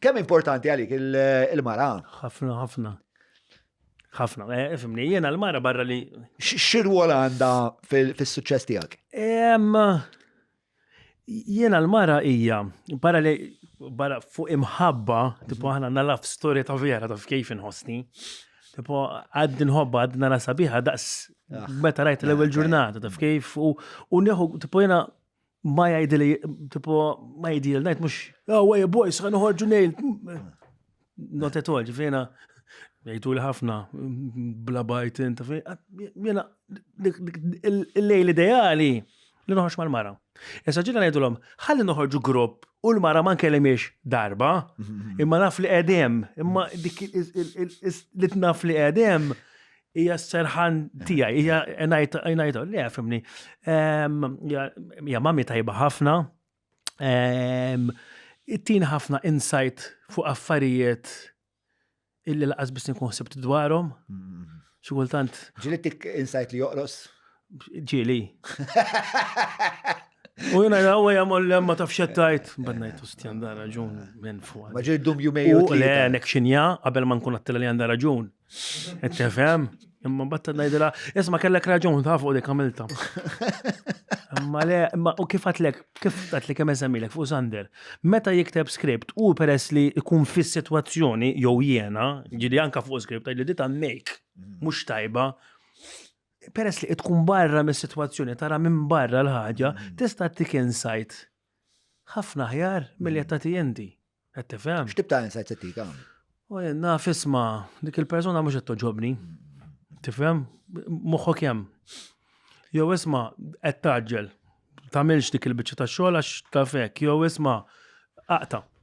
Kemm importanti għalik il-mara? Ħafna, ħafna. ħafna, eh, fimni, jena l-mara barra li. Xirwol għanda fil-suċċess tijak? Jena l-mara ija, barra li barra fuq imħabba, tipo ħana nalaf storja ta' vera ta' kif inħosni. Tipo, għad nħobba, għad nara sabiħa, daqs, ah. meta rajt l-ewel ġurnata, taf kif, u neħu, tipo jena, ma jgħidi li, tipo, ma jgħidi li najt mux, oh, way boys, għan uħorġu nejl. Not at all, ġifina, jgħidu li ħafna, bla bajt, inta fi, jena, il-lejl ideali li noħorġ mal-mara. Issa ġina ngħidu l-om, ħalli noħorġu grupp u l-mara ma nkellimiex darba, imma naf li qedem, imma dik li tnaf li qedem, hija s-serħan tiegħi, hija ngħid li fimni. Hija mami tajba ħafna. Ittin ħafna insight fuq affarijiet illi laqas biss nkun ħsibt dwarhom. Mm. Xi kultant. Ġilittik insight li joqros? Ġili. U jina jina għu jgħamol li ma tafx jattajt, bannajt u stjan da raġun minn fuq. Ma ġil dum jumej u le, nek xinja, għabel ma nkun għattila li għanda raġun. Ettefem, imma batta najdila, jisma kellek raġun ta' fuq dik għamilta. Imma le, imma u kif għatlek, kif għatlek kemm eżamilek fuq Sander, meta jikteb skript u peress li jkun fis situazzjoni jew jena, ġili anka fuq skript, li dita mek, mux tajba, peress li tkun barra mis situazzjoni tara minn barra l-ħaġa, mm. tista' tik insight ħafna ħjar mill qed tagħti inti. Qed tifhem? X'tib ta' insight se tik hawn? Jenna fisma, dik il-persuna mhux qed toġobni. Tifhem? Moħħok hemm. Jew isma' qed taġġel. Tagħmilx dik il-biċċa ta' xogħol għax ta' fek. Jew isma' aqta.